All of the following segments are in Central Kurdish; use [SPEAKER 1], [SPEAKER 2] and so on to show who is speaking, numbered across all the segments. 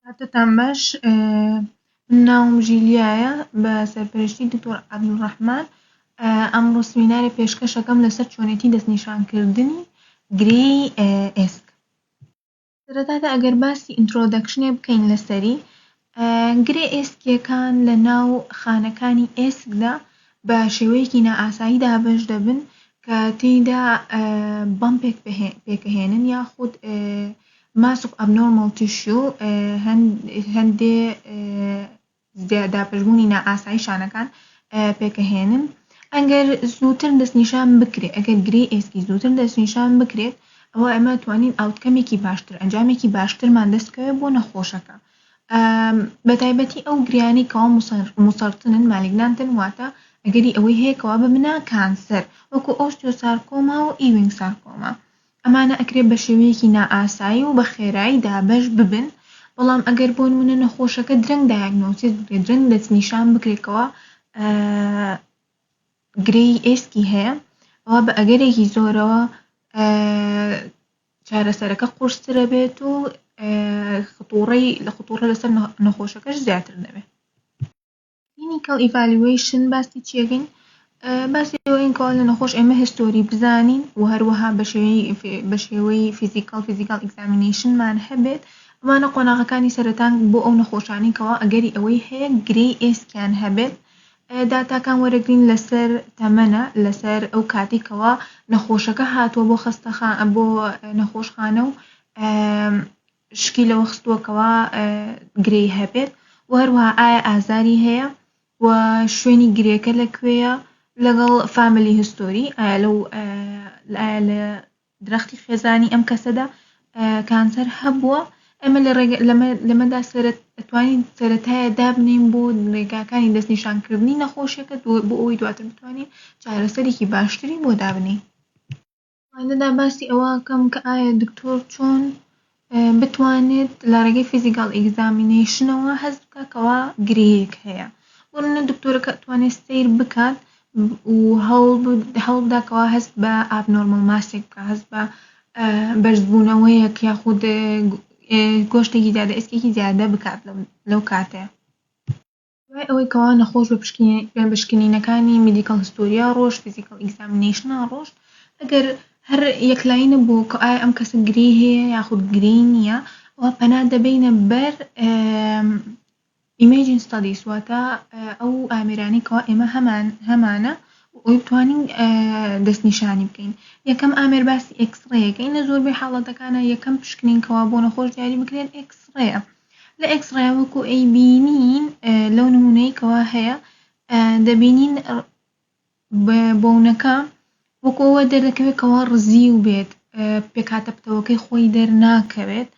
[SPEAKER 1] کاتتان باش من ناوم ژیلیایە بە سەرپەرشتی دکتۆر عەبدولڕەحمان ئەمڕۆ سمیناری پێشکەشەکەم لەسەر چۆنێتی دەستنیشانکردنی گرێی ئێسک سەرەتادا ئەگەر باسی ئینترۆدەکشنێ بکەین لەسەری گرێ ئێسکیەکان لە ناو خانەکانی ئێسکدا بە شێوەیەکی نائاسایی دابەش دەبن کە تێیدا بەمپێک پێکەهێنن یاخود Mass of Abnormal Tissue هەندێ دابەشبوونی نائاسایی شانەکان پێکەهێنن ئەگەر زووتر دەستنیشان بکرێت ئەگەر گرێی ئێسکی زووتر دەستنیشان بکرێت ئەوە ئەمە توانین ئاوتکەمێکی باشتر ئەنجامێکی باشترمان دەستکەوێت بۆ نەخۆشەکە بە تایبەتی ئەو گریانی کەوا مسەرتنن مالیگنانتن واتە ئەگەری ئەوەی هەیەکەوە ببنە کانسەر وەکو ئۆستیۆسارکۆما و ئیوینگ سارکۆما ئەمانە ئەکرێ بە شێوەیەکی نائاسایی و بە خێرایی دابەش ببن، بەڵام ئەگەر بۆنمونە نەخۆشەکە درەنگ دایەگنۆسیس بکرێت، درەنگ دەستنیشان بکرێت کەوا گرێی ئێسکی هەیە، ئەوا بە ئەگەرێکی زۆرەوە چارەسەرەکە قورسترە بێت و خطوڕەی لە خطوڕە لەسەر نەخۆشەکەش زیاتر دەبێت. کلینیکەڵ ئیڤالیوەیشن باسی چی ئەکەین باسی ئەوەین کەوا لە نەخۆش ئێمە هیستۆری بزانین و هەروەها بە شێوەی فیزیکەڵ فیزیکەڵ ئیگزامینەیشنمان هەبێت ئەمانە قۆناغەکانی سەرەتان بۆ ئەو نەخۆشانەی کەوا ئەگەری ئەوەی هەیە گرێی ئێسکیان هەبێت داتاکان وەرەگرین لەسەر تەمەنە لەسەر ئەو کاتی کەوا نەخۆشەکە هاتووە بۆ خەستەخان بۆ نەخۆشخانە و شکی لەوە خستووە کەوا گرێی هەبێت و هەروەها ئایا ئازاری هەیە و شوێنی گرێکە لە کوێیە لەگەڵ فامیلی هستۆری ئایا لەو ئایا لە درەختی خێزانی ئەم کەسەدا کانسەر هەبووە ئەمە لە ڕێگە لەمە لەمەدا سەرت ئەتوانین سەتایە دابنین بۆ ڕێگاکانی دەستنیشانکردنی نەخۆشیەکە بۆ ئەوی دواتر بتوانین چارەسەرێکی باشتری بۆ دابنین لێرەدا باسی ئەوە ئەکەم کە ئایا دکتۆر چۆن بتوانێت لە ڕێگەی فیزیکال ئیگزامینەیشنەوە هەست بکا کەوا گرێیەک هەیە بۆ نمونە دکتۆرەکە ئەتوانێت سەیر بکات و هەوڵ بد- هەوڵ بدا کەوا هەست بە ئابنۆرماڵ ماسێک بکا هەست بە بەرزبوونەوەیەک یاخود گۆشتێکی زیادە ئێسکێکی زیادە بکات لەو کاتەیە دوای ئەوەی کەوا نەخۆش بە پشکنین بە پشکنینەکانی میدیکەڵ هستۆریا ڕۆشت فیزیکەڵ ئیگزامینەیشنا ڕۆشت ئەگەر هەر یەکلایی نەبوو کە ئایا ئەم کەسە گرێی هەیە یاخود گرێی نییە ئەوا پەنا دەبەینە بەر ئیمەیجین ستادیس واتە ئەو ئامێرانەی کەوا ئێمە هەمان هەمانە ئەوی بتوانین دەستنیشانی بکەین یەکەم ئامێر باسی ئێکسڕەیەکە ئینە زۆربەی حاڵەتەکانە یەکەم پشکنین کەوا بۆ نەخۆش دیاری بکرێن ئێکسڕەیە لە ئێکسڕەیا وەکو ئەیبینین لەو نمونەی کەوا هەیە دەبینین بۆونەکە وەکو ئەوە دەردەکەوێت کەوا ڕزیو بێت پێکهاتە پتەوەکەی خۆی دەرناکەوێت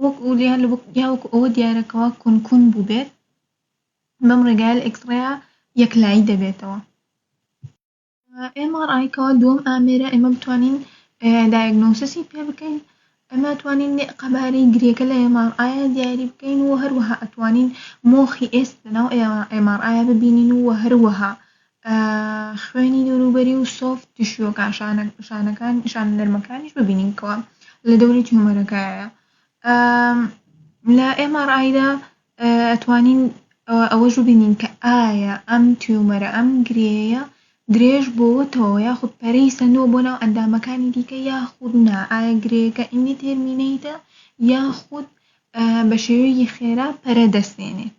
[SPEAKER 1] وەک ئولیا یا وەکو ئەوە دیارەکەوا کونکون بووبێت بەم ڕێگایە لە ئێکسڕەیا یەکلایی دەبێتەوە MRI کەوە دووەم ئامێرە ئێمە بتوانین دایگنۆسیسی پێ بکەین ئەمە توانین قەبارەی گرێکە لە MRI دیاری بکەین و هەروەها ئەتوانین مۆخی ئێست لەناو MRI ببینین و هەروەها خوێنی دەوروبەری و سۆفت تشوەکان شانەکان شان نەرمەکانیش ببینین کەوە لە دەوری تیۆمەرەکایە لە MRI دا ئەتوانین ئەوەش ببینین کە ئایا ئەم تیومەرە ئەم گرێیە درێژ بۆوەتەوە یاخود پەرەی سەندووە بۆ ناو ئەندامەکانی دیکە یاخود نا ئایا گرێیەکە ئیندیتێرمینەیتە یاخود بە شێوەیەکی خێرا پەرە دەستێنێت.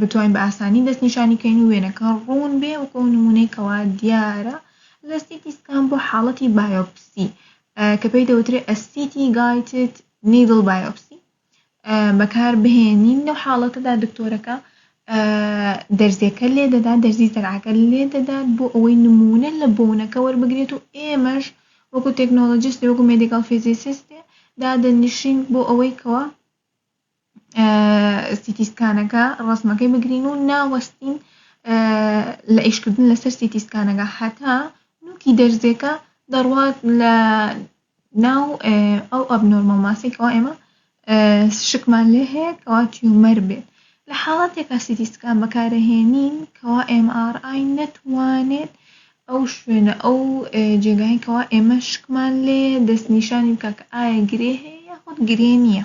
[SPEAKER 1] بتوانین بە ئاسانی دەست نیشانی کەین و وێنەکە ڕوون بێ وەکو ئەو نمونەی کەوا دیارە لە سیتی سکان بۆ حاڵەتی بایۆپسی کە پێی دەوترێ ئەسیتی گایتد نیدڵ بایۆپسی بەکار بهێنین لەو حاڵەتەدا دکتۆرەکە دەرزیەکە لێ دەدات دەرزی زەرعەکە لێ دەدات بۆ ئەوەی نمونە لە بۆنەکە وەربگرێت و ئێمەش وەکو تەکنۆلۆجیست وەکو مێدیکال فیزیسیست دادەنیشین بۆ ئەوەی کەوە سیتی سکانەکە ڕسمەکەی بگرین و ناوەستین لە ئیشکردن لەسەر سیتی سکانەکە هەتا نوکی دەرزێکە دەڕوات لە ناو ئەو ئەب نۆرمە ماسێکەوە ئێمە شکمان لێ هەیە کەوا تیومەر بێت لە حاڵاتێکا سیتی سکان بەکارەهێنین کەوا MRI نەتوانێت ئەو شوێنە ئەو جێگایکەوە ئێمە شکمان لێ دەستنیشانی بکە کە ئایا گرێ هەیە یاخود گرێ نییە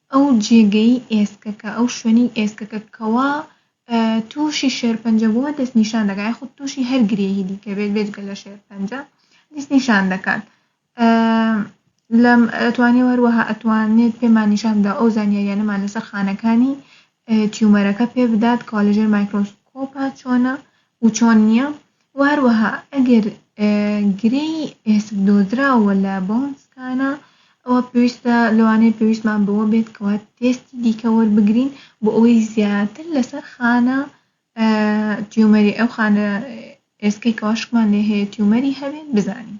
[SPEAKER 1] ئەو جێگەی ئێسکەکە، ئەو شوێنەی ئێسکەکە کەوا تووشی شێرپەنجە بووە دەست نیشان دەکات، یاخود تووشی هەر گرێی دیکە بێت بێجگە لە شێرپەنجە دەست نیشان دەکات. ئەتوانێت هەروەها ئەتوانێت پێمان نیشان بدا ئەو زانیاریانەمان لەسەر خانەکانی تیومەرەکە پێ بدات کەوا لەژێر مایکرۆسکۆپە چۆنە و چۆن نییە وهەروەها ئەگەر گرێی ئێسک دۆزراوە لە بۆنسکانە ئەوە پێویستە لەوانەیە پێویستمان بەوە بێت کەوا تێستی دیکە وەربگرین بۆ ئەوەی زیاتر لەسەر خانە تیۆمەری ئەو خانە ئێسکەی کەوا شکمان لێ هەیە تیۆمەری هەبێت بزانین.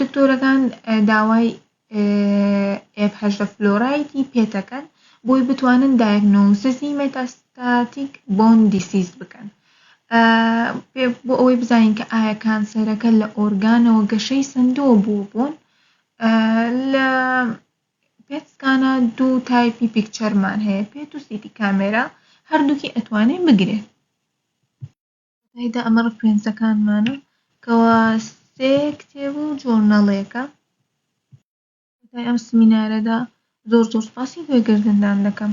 [SPEAKER 1] دکتۆرەکان داوای ئێف هەژدە فلۆرایدی پێدەکەن بۆی بتوانن دایگنۆززی مێتاستاتیک بۆن دیسیز بکەن بۆ ئەوەی بزانین کە ئایا کانسەرەکە لە ئۆرگانەوە گەشەی سندووە بۆ بۆن لە پێتسکانە دوو تایپی پیکچەرمان هەیە پێت و سیتی کامێرا هەردووکی ئەتوانێ بگرێت تێیدا ئەمە ڕفرێنسەکانمانە کەوا سێ کتێب و جۆرنەڵێکە کۆتای ئەم سمینارەدا زۆر زۆر سپاسی گوێگردندان دەکەم